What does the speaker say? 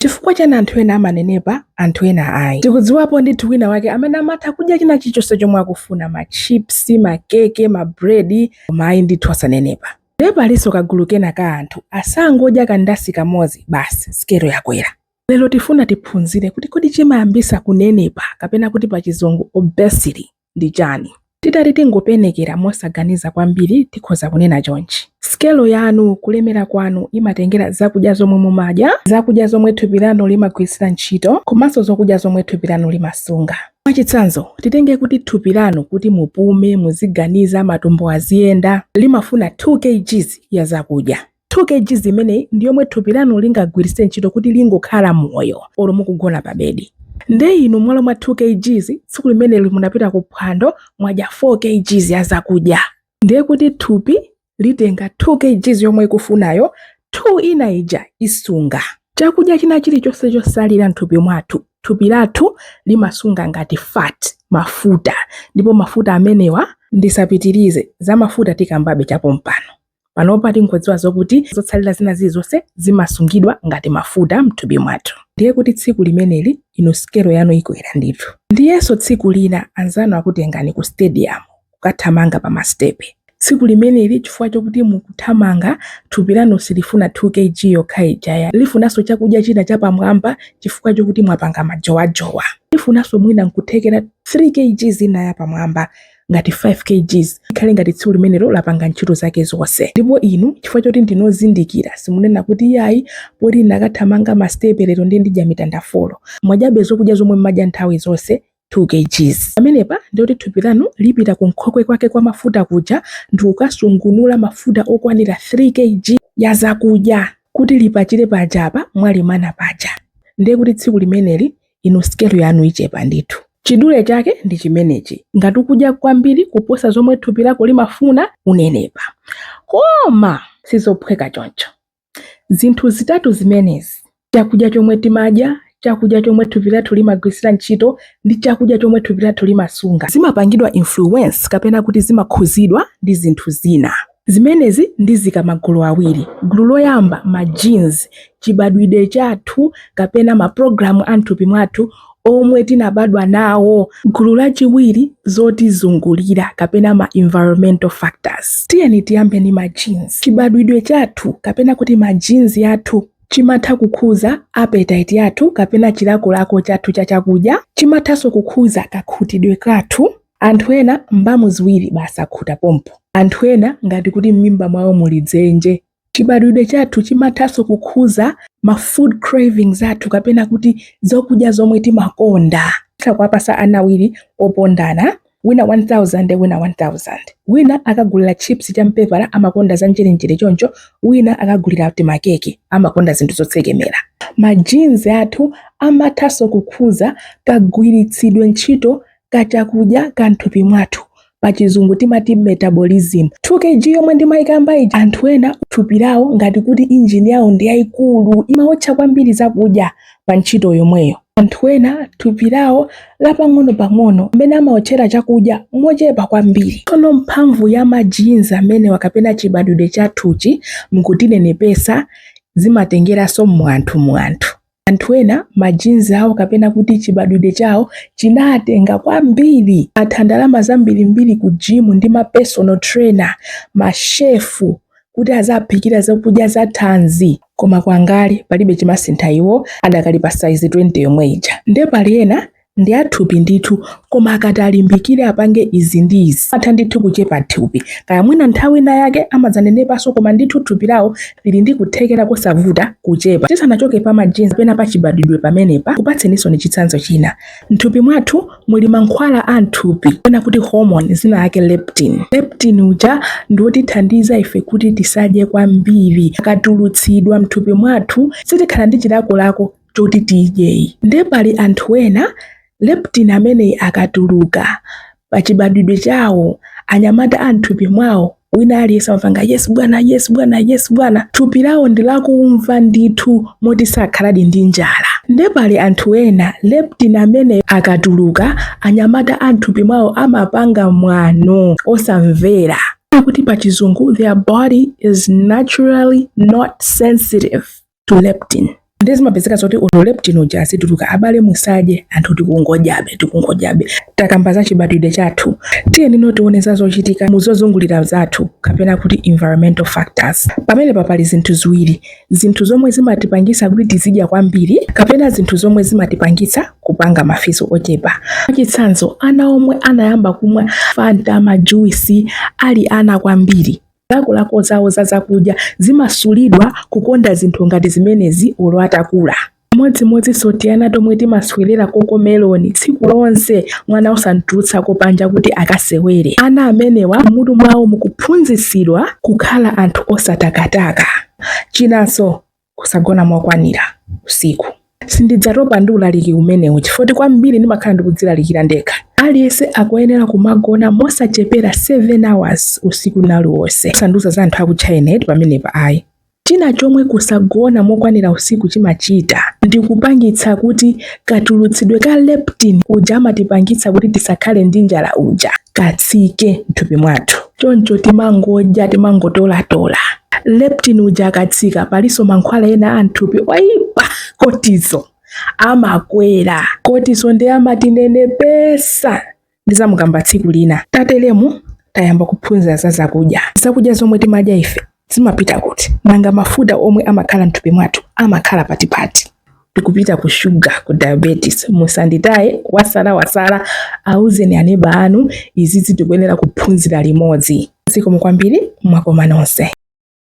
Chifukwa chani anthu ena amanenepa anthu ena ayi? Tikudziwapo ndithu wina wake amene amatha kudya china chilichonse chomwe akufuna, ma chips, ma keke, ma bread, koma ayi ndithu osanenepa. Ndiye palinso kagulu kena ka anthu asangodya kandasi kamodzi basi sikelo yakwera. Lero tifuna tiphunzire kuti kodi chimayambisa kunenepa kapena kuti pachizungu obesity. ndi chani? Titati tingopenekera mosaganiza kwambiri tikhoza kunena chonchi. Sikelo yanu, kulemera kwanu, imatengera zakudya zomwe mumadya, zakudya zomwe thupi lanu limagwiritsira ntchito komanso zokudya zomwe thupi lanu limasunga. Mwachitsanzo, titenge kuti thupi lanu kuti mupume, muziganiza, matumbo aziyenda, limafuna 2 kgs ya zakudya. 2 kgs imeneyi ndi yomwe thupi lanu lingagwiritse ntchito kuti lingokhala moyo olo mukugona pa bedi nde inu mmalo mwa 2 kgs tsiku limeneli munapita ku phwando mwadya 4 kgs ya zakudya ndiye kuti thupi litenga 2 kgs yomwe ikufunayo 2 ina ija isunga chakudya china chilichonse chotsalira mthupi mwathu thupi lathu limasunga ngati fat mafuta ndipo mafuta amenewa ndisapitirize za mafuta tikambabe chapompano Panopa tingodziwa zokuti zotsalira zina zilizonse zimasungidwa ngati mafuta m'thupi mwathu. Ndiye kuti tsiku limeneli inu sikelo yanu ikwera ndithu. Ndiyenso tsiku lina anzanu akutengani ku stadium kukathamanga pa masitepe. Tsiku limeneli chifukwa chokuti mukuthamanga, thupi lanu silifuna 2 KG yokha ijayi. Lifunanso chakudya china chapamwamba chifukwa chokuti mwapanga majowajowa. Lifunanso mwina nkuthekera 3 KG ina yapamwamba ngati 5 kgs ikhale ngati tsiku limenelo lapanga ntchito zake zonse ndipo inu chifukwa choti ndinozindikira simunena kuti yayi poti ndakathamanga masitepe lero ndi ndidya mitanda folo mwadyabe zokudya zomwe mmadya nthawi zonse 2 kgs pamenepa ndiyoti thupi lanu lipita ku nkhokwe kwake kwa mafuta kuja ndikukasungunula mafuta okwanira 3 kg ya zakudya kuti lipachire pajapa mwalimana paja ndiye kuti tsiku limeneli inu sikelo yanu ichepa ndithu. Chidule chake ndi chimenechi, ngati ukudya kwambiri kuposa zomwe thupi lako limafuna, unenepa. Koma sizophweka choncho. Zinthu zitatu zimenezi, chakudya chomwe timadya, chakudya chomwe thupi lathu limagwiritsira ntchito, ndi chakudya chomwe thupi lathu limasunga, zimapangidwa influence kapena kuti zimakhudzidwa ndi zinthu zina. Zimenezi ndiziika m'magulu awiri. Gulu loyamba, ma genes, chibadwidwe chathu kapena ma program a mthupi mwathu omwe tinabadwa nawo. Gulu lachiwiri, zotizungulira kapena ma environmental factors. Tiyeni tiyambe ndi ma genes. Chibadwidwe chathu kapena kuti ma genes yathu chimatha kukhuza appetite yathu kapena chilakolako chathu cha chakudya, chimathanso kukhuza kakhutidwe kathu, Anthu ena mbamu ziwiri basi akhuta pompo. Anthu ena ngati kuti m'mimba mwawo muli dzenje. Chibadwidwe chathu chimathanso kukhuza ma food cravings athu kapena kuti zokudya zomwe timakonda. Titha kuwapasa ana awiri ofanana, wina 1000 wina 1000. Wina akagulila chips cha mpepala amakonda za njerenjere choncho wina akagulila tima keke amakonda zinthu zotsekemera. Ma genes athu amathanso kukhuza kagwiritsidwe ntchito ka chakudya ka m'thupi mwathu pa chizungu timati metabolism 2 kg yomwe ndimayikamba ija anthu ena thupi lawo ngati kuti injini yawo ndi yayikulu imawotcha kwambiri zakudya pa ntchito yomweyo anthu ena thupi lawo lapang'onopang'ono amene amawotchera chakudya mochepa kwambiri tsono mphamvu ya ma genes amenewa kapena chibadwidwe chathuchi nkutinenepetsa zimatengeranso mu anthu mu anthu Anthu ena ma genes awo kapena kuti chibadwidwe chawo chinawatenga kwambiri, atha ndalama zambirimbiri ku gym ndi ma personal trainer, ma chef kuti aziwaphikira zakudya za thanzi koma kwangali palibe chimasintha iwo adakali pa size 20 yomwe ija. Nde pali ena ndi a thupi ndithu koma akati alimbikire apange izi ndi izi atha ndithu kuchepa thupi kaya mwina nthawi ina yake amadzanenepanso koma ndithu thupi lawo lili ndi kuthekera kosavuta kuchepa tisanachoke pa ma genes pena pa chibadwidwe pamenepa ndikupatseninsoni chitsanzo china mthupi mwathu muli mankhwala a mthupi pena kuti hormone dzina lake leptin leptin uja ndi wotithandiza ife kuti tisadye kwambiri akatulutsidwa mthupi mwathu sitikhala ndi chilakolako choti tidye nde pali anthu ena leptin ameneyi akatuluka pachibadwidwe chawo anyamata a mthupi mwawo wina aliyense amapanga yes bwana yes bwana yes bwana thupi lawo ndi lakumva ndithu moti sakhaladi ndi njala nde pali anthu ena leptin ameneyi akatuluka anyamata a mthupi mwawo amapanga mwano osamvera kuti pachizungu their body is naturally not sensitive to leptin nde zimapezeka zoti olo leptin uja azituluka abale musadye anthu tikungodyabe tikungodyabe takamba za chibadwidwe chathu tiyenino tione za zochitika muzozungulira zathu kapena kuti environmental factors pamenepa pali zinthu ziwiri zinthu zomwe zimatipangisa kuti tizidya kwambiri kapena zinthu zomwe zimatipangisa kupanga mafizo ochepa chitsanzo ana omwe anayamba kumwa fanta majuisi ali ana kwambiri zilakolako zawo za zakudya zimasulidwa kukonda zinthu ngati zimenezi olo atakula chimodzimodzinso tiana tomwe timaswerera Cocomelon tsiku lonse mwana osamtulutsako panja kuti akasewere ana amenewa m'mutu mwawo mukuphunzitsidwa kukhala anthu osatakataka chinanso kusagona mokwanira usiku. Sindidzatopa ndi ulaliki umenewu chifukwa kwambiri ndimakhala ndikudzilalikira ndekha. Aliyense akuyenera kumagona mosachepera 7 hours usiku uliwonse. Sanduza za anthu aku China pamenepa ayi. China chomwe kusagona mokwanira usiku chimachita ndi kupangitsa kuti katulutsidwe ka leptin uja amatipangitsa kuti tisakhale ndi njala uja katsike m'thupi mwathu choncho timangodya timangotolatola leptin uja akatsika palinso mankhwala ena a m'thupi oyipa cortisol amakwera cortisol ndi amatinenepesa ndizamukamba tsiku lina. Tatelemu tayamba kuphunzira za zakudya. Zakudya zomwe timadya ife zimapita kuti? Nanga mafuta omwe amakhala mthupi mwathu amakhala patipati? Tikupita ku sugar, ku diabetes. Musanditaye wasala wasala, auzeni aneba anu izizi tikuyenera kuphunzira limodzi. Zikomo kwambiri, mwakoma nonse.